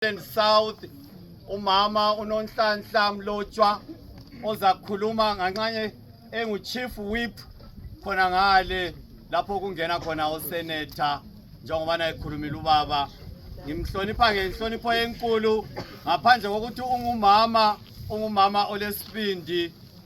Western South umama unonhlanhla mlotshwa ozakhuluma nganxanye engu chief whip khona ngale lapho kungena khona usenator njengobana ekhulumile ubaba ngimhlonipha ngenhlonipho enkulu ngaphandle kokuthi ungumama ungumama olesibindi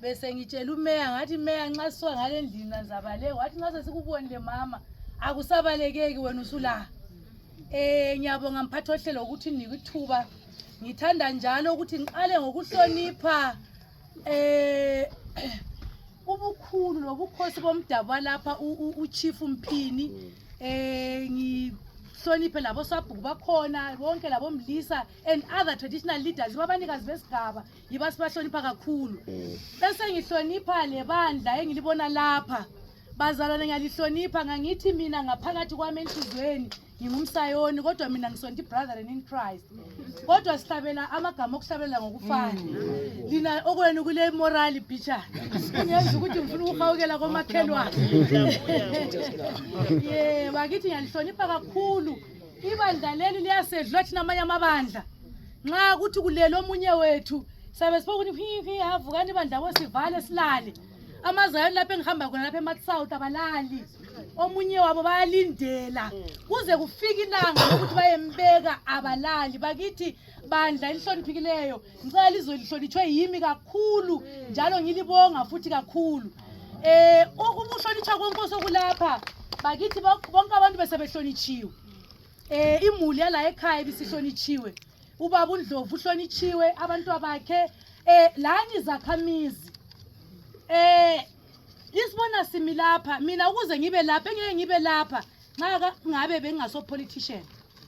besengitshela umeya ngathi meya nxa sisuka ngale ndlini nanzabaleke wathi nxa sesikubonile mama akusabalekeki wena usula um eh, ngiyabonga mphathi ohlelo ukuthi nike ithuba ngithanda njalo ukuthi ngiqale ngokuhlonipha um ubukhulu lobukhosi bomdabu walapha uchief mphini um ngihloniphe labosabhuku bakhona bonke labomlisa and other traditional leaders babanikazi besigaba yiba sibahlonipha kakhulu mm. bese ngihlonipha lebandla engilibona lapha bazalwane ngiyalihlonipha ngangithi mina ngaphakathi kwami enhliziyweni ngingumsayoni kodwa mina ngisonta ibrotheren in christ kodwa sihlabela amagama okuhlabela ngokufana lina okwenu kule morali bicha kungenza ukuthi ngifuna ukuhawukela komakhelwane ye bakithi ngiyalihlonipha kakhulu Ibandla leli liyasedlula thina amanye amabandla. Nxa kuthi kulele omunye wethu sabe sibokuthi hihi havukani ibandla bo sivale silale. Amazayoni lapho engihamba khona lapho eMatsouth abalali. Omunye wabo bayalindela kuze kufike ilanga lokuthi bayembeka abalali bakithi bandla elihloniphikileyo ngicela lizwe lihlonitshwe yimi kakhulu njalo ngilibonga futhi kakhulu eh ukuhlonitshwa konke osekulapha bakithi bonke abantu besebehlonitshiwe eh imuli yala ekhaya bisihlonitshiwe ubaba undlovu uhlonitshiwe abantu bakhe eh lani zakhamizi eh isibona simi lapha mina ukuze ngibe lapha engeke ngibe lapha nxa ngabe bengingaso politician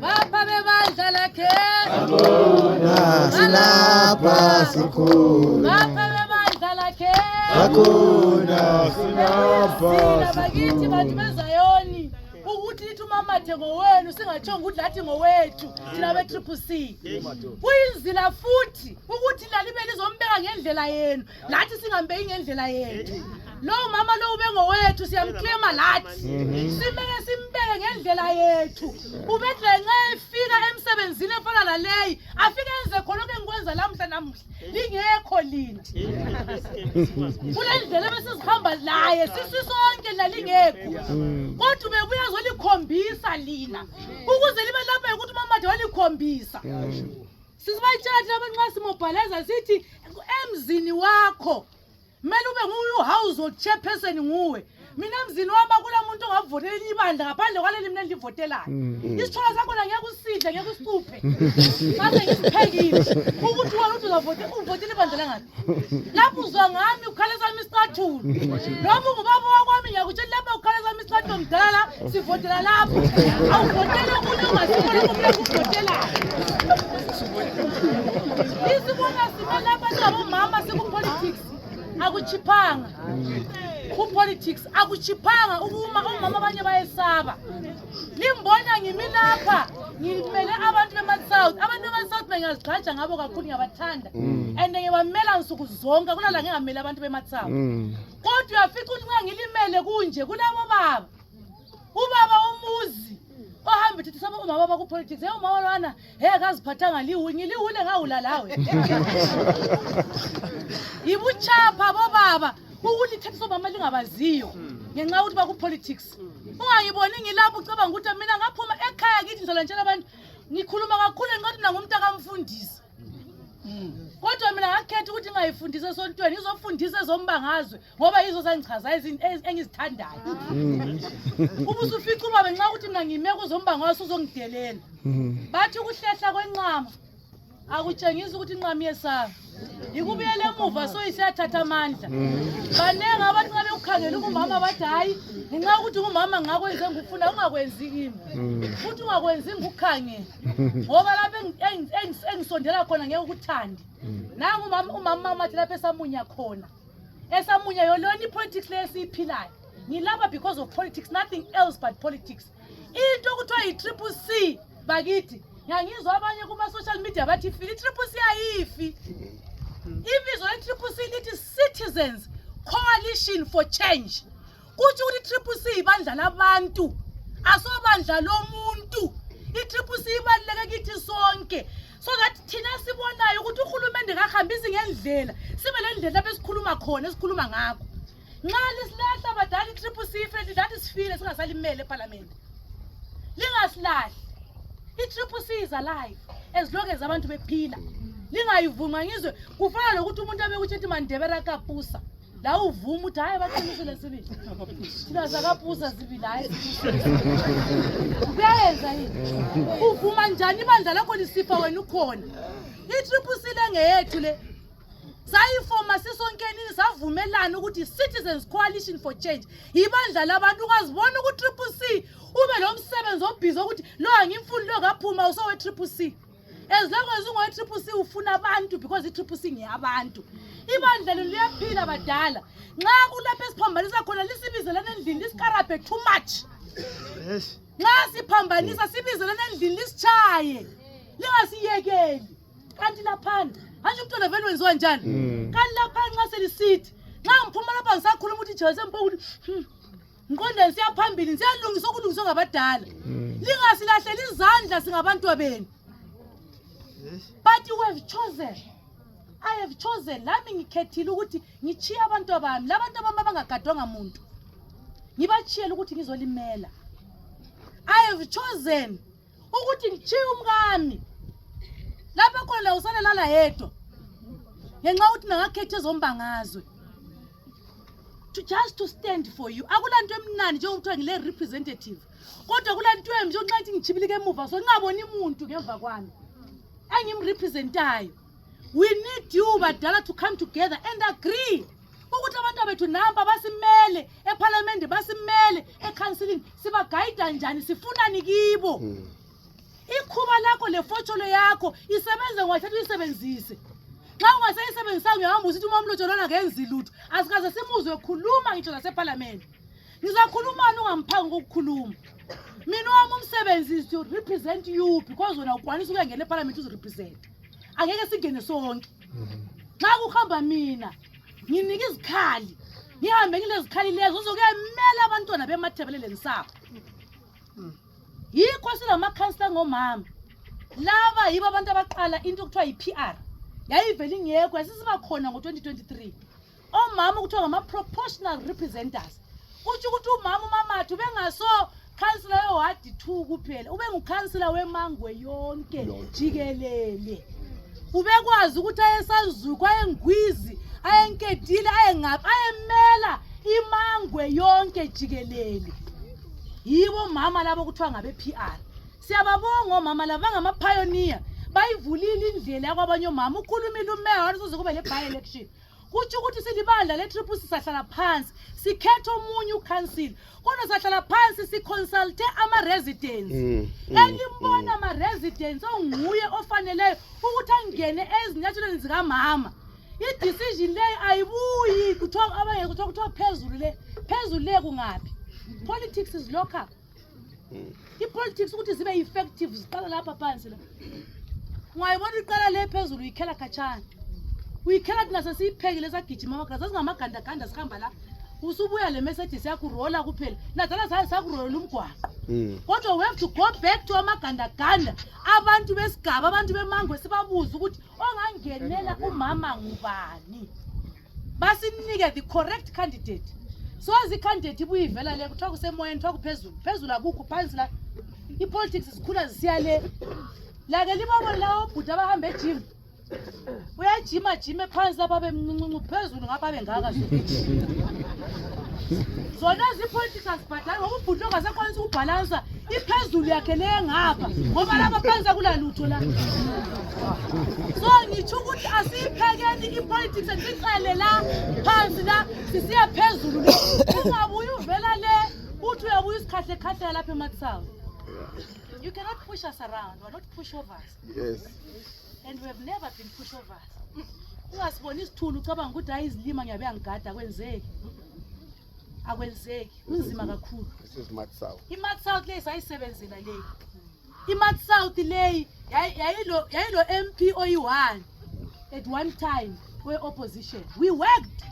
Baba bazala ke. Hakuna sina pasiku. Baba bazala ke. Hakuna sina pasiku. Bakithi bantu bezayoni ukuthi lithi umamathe ngowenu singatshonga ukuthi lathi ngowethu thina be-triple c kuyinzila futhi ukuthi lalibe lizombeka ngendlela yenu lathi singambeki ngendlela yethu lowo mama lowo ubengowethu siyamclaima lathi simele simbeke ngendlela yethu ubedle nxa efika emsebenzini efana naleyi afike enze khonokho engikwenza lamuhla namuhla lingekho lina kule ndlela ebesizihamba laye sisisonke lalingekho kodwa ubebuya zolikhombisa lina ukuze libe lapha yokuthi umamathe walikhombisa sisibayitshatha abantu nxa simobhalaza sithi emzini wakho kumele ube nguye uhouse of chairperson nguwe mina mzini wami akulamuntu ongavotela elinye ibandla ngaphandle kwaleli mina endivotelayo mm. isithola sakhona ngeke usidle ngeke usicuphe ngase ngisiphekile ukuthi wona ukuthi uzavotela ibandla langaphi lapho uzwa ngami ukhaleza misathulu noma ungubaba wakwami ngiyakutshela lapha ukhaleza misathulu mdala sivotela lapho awuvotela okunye ungasibona kumlapho uvotelayo isibona sime lapha singabomama sikupolitics akuchiphanga kupolitics akuchiphanga ukuma omama abanye bayesaba limbona ngimi lapha ngimele abantu bema-south abantu bema-south bengazigxaja ngabo kakhulu ngiyabathanda mm. and ngibamela nsuku zonke kunala ngingamele abantu bema-south mm. kodwa uyafica ukuthi nxa ngilimele kunje kulabo baba ubaba umuzi ohamba ethi saba umama waba kupolitics hey umama lwana he kaziphathanga liwu ngiliwule ngawula lawe yibuchapha bobaba ukulithetha somama lingabaziyo ngenxa yokuthi bakupolitics ungayiboni ngilapho ucabanga ukuthi mina ngaphuma ekhaya kithi ngizola ntshela abantu ngikhuluma kakhulu ngiqathi mina ngumntakamfundisi kodwa mina ngakhetha ukuthi ngingayifundisi esontweni ngizofundisa ezombangazwe ngoba yizo zangichaza engizithandayo uba usufica ubaba nxa ukuthi mina ngime kuzombangazwe uzongidelela bathi ukuhlehla kwenqama akutshengisi ukuthi inqamu yesaba yikubuyela emuva so isiyathatha amandla baningi abantu nxa bekukhangela ungumama bathi hhayi ngenxa yokuthi ungumama ngakwenze ngikufuna ungakwenzi kimi futhi ungakwenzi ngikukhangela ngoba lapho engisondela khona ngeke ukuthande nangu umama amathi lapho esamunya khona esamunya yolona ipolitics leyo esiyiphilayo ngilapha because of politics nothing else but politics into okuthiwa yi-triple c bakithi ngiyangizwa abanye kuma-social media bathi ifile i-triple c ayifi ibizo le-triple c lithi citizens coalition for change kutsho ukuthi i-triple c ibandla labantu asobandla lomuntu i-triple c ibaluleke kithi sonke so that thina sibonayo ukuthi uhulumende kahambisi ngendlela sibe le ndlela besikhuluma khona esikhuluma ngakho nxa lisilahla badala i-triple c friendly that sifile singasalimele ephalamende lingasilahli i-triple c is alive as long as abantu bephila lingayivuma ngizwe kufana lokuthi umuntu abekutsho ethi mandebera kapusa lawo uvuma ukuthi hhayi baqinisele sibili thina zakapusa sibili hhayi kuyayenza yini uvuma njani ibandla lakho lisipha wena ukhona i-triple c lengeyethu le sayifoma sisonkenini savumelana ukuthi citizens coalition for change yibandla labantu ungazibona ku-triple c ube lo msebenzi obhizi wokuthi lo angimfuni lo kaphuma usowe-triple c as long as ungowe-triple c ufuna abantu because i-triple c ngeyabantu ibandla lenu liyaphila badala nxa kulapho esiphambanisa khona lisibizelana endlini lisikarabhe too much nxa siphambanisa sibizelana endlini lisitshaye lingasiyekeli kanti laphana manje umntwana vele wenziwa njani mm. kanti laphana nxa selisithi nxa ngiphuma lapha ngisakhuluma ukuthi jesu empo ukuthi hmm, ngiqondeni siyaphambili siyalungiswa ukulungiswa ngabadala mm. lingasilahleli izandla singabantwa benu but you have chosen i have chosen lami ngikhethile ukuthi ngitshiye abantu abami labantu abami abangagadwanga muntu ngibatshiyele ukuthi ngizolimela i have chosen ukuthi ngitshiye umkami lapha khona laye usale lala yedwa ngenxa yokuthi nangakhetha ezombangazwe to just to stand for you akulanto emnandi njengokuthiwa ngile representative kodwa kulanto embi njengoxa ithi ngichibilike emuva so ngingaboni muntu ngemva kwami engimrepresentayo we need you badala to come together and agree ukuthi abantu bethu nampa basimele ephalamende basimele ekhansilini sibagayida njani sifunani kibo hmm. ikhuba lakho lefotsholo yakho isebenze ngathatha uyisebenzise xa ungaseyisebenzisanga uyahamba usithi uma umlotsholo lona ngenzi lutho asikaze simuzwe khuluma ngitsho nasephalamende ngizakhulumani ungamphanga kokukhuluma mina wami umsebenzi is to represent you because wena ukwanisa ukuyangena ephalamende uzirepresente angeke singene sonke nxa kuhamba mina nginika izikhali ngihambe ngilezikhali lezo uzokuyamela abantwana bemathebeleleni sabo yikho silamakhansila ngomama laba yibo abantu abaqala into okuthiwa yi-p r yayivele ingekho yasisiba khona ngo-2023 omama okuthiwa ngama-proportional representers kutsho ukuthi umama umamathu bengaso khansila wewadi two kuphela ube ngukhansila wemangwe yonke jikelele ubekwazi ukuthi ayesazuku ayengwizi ayenkedile ayengaphi ayemela imangwe yonke jikelele yibo mama labo kuthiwa ngabe-p r siyababonga omama labo bangamaphayoniya bayivulile indlela yakwabanye omama ukhulumile umeya wani soze kube ne-by election kutsho ukuthi silibandla le-triple sisahlala phansi sikhetha omunye ucouncil kodwa sahlala phansi siconsulte ama-residence mm, mm, elimbona mm. ama-residence onguye ofaneleyo ukuthi angene ezinyathelweni zikamama i-decision leyo ayibuyi kuthiwa abangekuthiwa kuthiwa phezulu le phezulu le kungaphi politics is local ipolitics ukuthi zibe effective ziqala lapha phansi la ungayibona iqala le phezulu uyikhela khatshana uyikhela thina sesiyiphekile sagijima amaganda sasingamagandaganda sihamba la usubuya le message siyakurola kuphela nadala saye sakurolela umgwaqo hmm. kodwa we have to go back to amagandaganda abantu besigaba abantu bemangwe sibabuze ukuthi ongangenela umama ngubani basinike the correct candidate soze icandidate ibuye ivela le kuthiwa kusemoyeni kuthiwa kuphezulu phezulu akukho phansi la ipolitics zikhula zisiya le lake libabone lawo obhuti abahamba ejim uyajima jime phansi lapha bemncincincu phezulu ngapha bengaka zona zipolitics azibhadali ngoba ubhuti ongasekwanisa ukubhalansa iphezulu yakhe le ngapha ngoba lapha phansi akulalutho la so ngitsho ukuthi asiyiphekeni ipolitics siqale la phansi la sisiya phezulu le ungabuye uvela le uthi uyabuya usikhahlekhahleka lapha emakusawo you cannot push us around we're not pushovers yes and we have never been pushovers ungasiboni isithulu ucabanga ukuthi hayi izilima ngiyabe yangigada kwenzeki akwenzeki kunzima kakhulu imat south leyi sayisebenzela leyi imat south leyi yayilo m p oyi-one at one time we-opposition we worked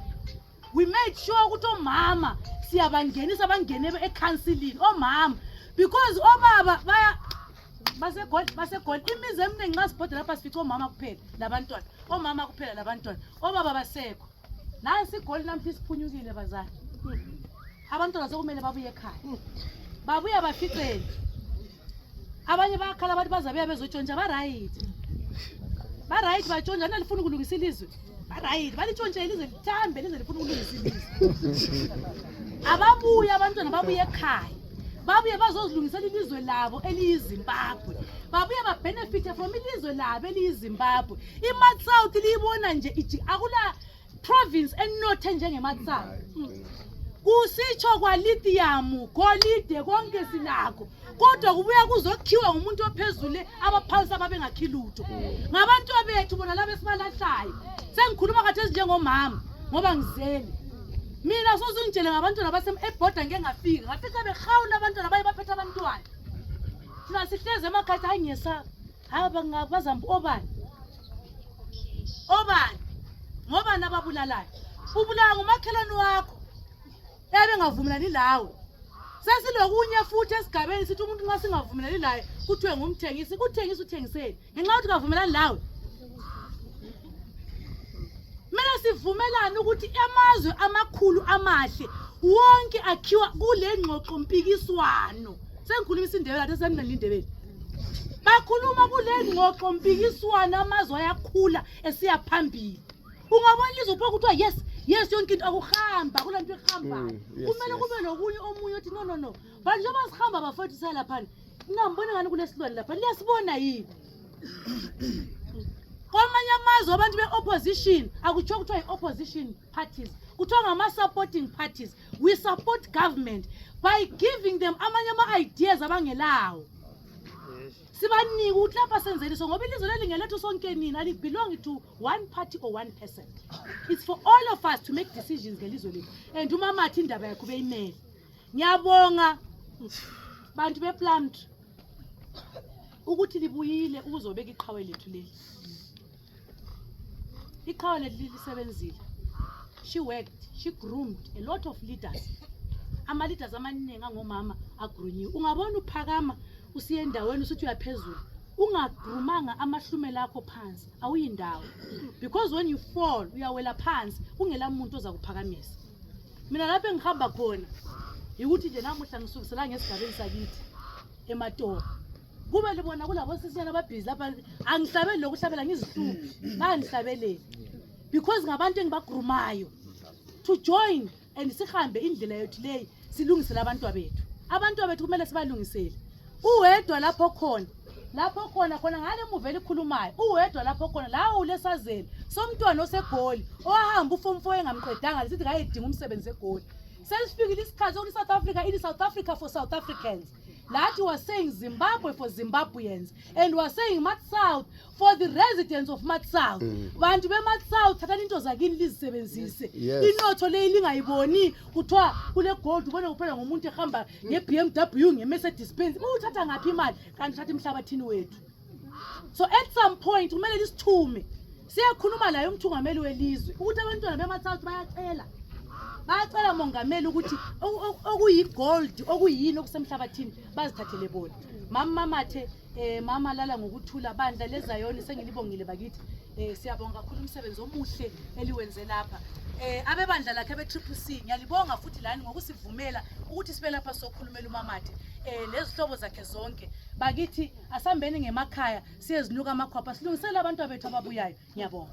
we made sure ukuthi omama siyabangenisa bangene ekhansilini omama because obaba baya basegoli basegoli imizi eminingi nxa sibhoda lapha sifica omama kuphela labantwana omama kuphela labantwana obaba basekho nansi igoli namhla isiphunyukile bazali abantwana sekumele babuye ekhaya babuye baficele abanye bayakhala abantu bazabuya bezotshontsha barayithi barayithi batshontsha nalifuna ukulungisa ilizwe barayithi balitshontshe ilizwe lithambe lize lifuna ukulungisa ilizwe ababuye abantwana babuye ekhaya babuye bazozilungisela ilizwe labo eliyizimbabwe babuye babhenefithe from ilizwe labo eliyizimbabwe imat south liyibona nje iji akula province enothe njengemat south kusitsho kwalitiyamu golide konke silakho kodwa kubuya kuzokhiwa ngumuntu ophezule abaphansi ababengakhi lutho ngabantu bethu bona laba esibalahlayo sengikhuluma kathi ezinjengomama ngoba ngizele mina sozungitshele ngabantwana basem ebhoda ngike ngafika ngafica behawula abantwana baye baphethe abantwana thina sihlezi emakhathi hayi ngiyesaba hayi bazambi obani obani ngobani ababulalayo ubulawa ngumakhelwane wakho yabe ngavumelani lawe sesilokunye futhi esigabeni sithi umuntu nxa singavumelani laye kuthiwe ngumthengisi kuthengisa uthengiseni ngenxa yokuthi kavumelani lawe kumele sivumelane ukuthi amazwe amakhulu amahle wonke akhiwa kule ngxoxo mpikiswano sengikhuluma isindebele athe sendinalindebele bakhuluma kule ngxoxo mpikiswano amazwe ayakhula esiya phambili ungabona ilizwe pho kuthiwa yes yes yonke into akuhamba kula nto ihambayo mm, kumele kube nokunye omunye othi no no no But njengoba sihamba bafowethu salaphana, ningambona ngani kunesilwane lapha. Liyasibona yini? Kwamanye amazwe abantu be-opposition akuthiwa kuthiwa yi-opposition parties kuthiwa ngama-supporting parties we support government by giving them amanye ama-ideas abangelawo sibanike ukuthi lapha senzeni so ngoba ilizwe leli ngelethu sonke nini alibelongi to one party or one person it's for all of us to make decisions ngelizwe lethu and umamathi indaba yakho beyimele ngiyabonga bantu beplumd ukuthi libuyile ukuzobeka iqhawe lethu leli iqhawe lethu lilisebenzile she worked she groomed a lot of leaders ama-leaders amaningi angomama agrunyiwe ungabona uphakama usiye endaweni usuthi uyaphezulu ungagrumanga amahlumela akho phansi awuyindawo because when you fall uyawela phansi kungela muntu oza kuphakamisa mina lapho engihamba khona yikuthi nje namuhla ngisukiselanga esigabeni sakithi ematora kube libona kulabosisinyana ababhizi lapha angihlabeli lokuhlabela ngizihluphi bangihlabeleli because ngabantu engibagrumayo to join and sihambe indlela yethu leyi silungisele abantwa bethu abantwa bethu kumele sibalungisele uwedwa lapho khona lapho khona khona ngale muva elikhulumayo uwedwa lapho khona lawo ulesazeli somntwana osegoli owahamba ufomfo engamqedanga lisithi kayedinga umsebenzi egoli sesifikile isikhathi sokuthi i-south africa ili south africa for south africans lathi was saying zimbabwe for zimbabweans and was saying mat south for the residents of matsouth mm. bantu bematsouth thathani into zakini lizisebenzise yes. inotho leyi lingayiboni kuthiwa kulegold ubone kuphela ngomuntu ehamba nge-b m w nge-mercedes benz uthatha ngaphi imali kanti uthatha emhlabathini wethu so at some point kumele lisithume siyakhuluma laye umthungameli welizwe ukuthi abantwana bematsouth bayacela bayacela mongameli ukuthi okuyigold okuyini okusemhlabathini bazithathele bona mama mamathe Eh mama lala ngokuthula bandla lezayoni sengilibongile bakithi. Eh siyabonga kakhulu umsebenzi omuhle eliwenze lapha. Eh abebandla lakhe be Triple C ngiyalibonga futhi lani ngokusivumela ukuthi sibe lapha sokhulumela umamathe. Eh lezihlobo zakhe zonke. Bakithi asambeni ngemakhaya siyezinuka amakhwapha silungisele abantu abethu ababuyayo. Ngiyabonga.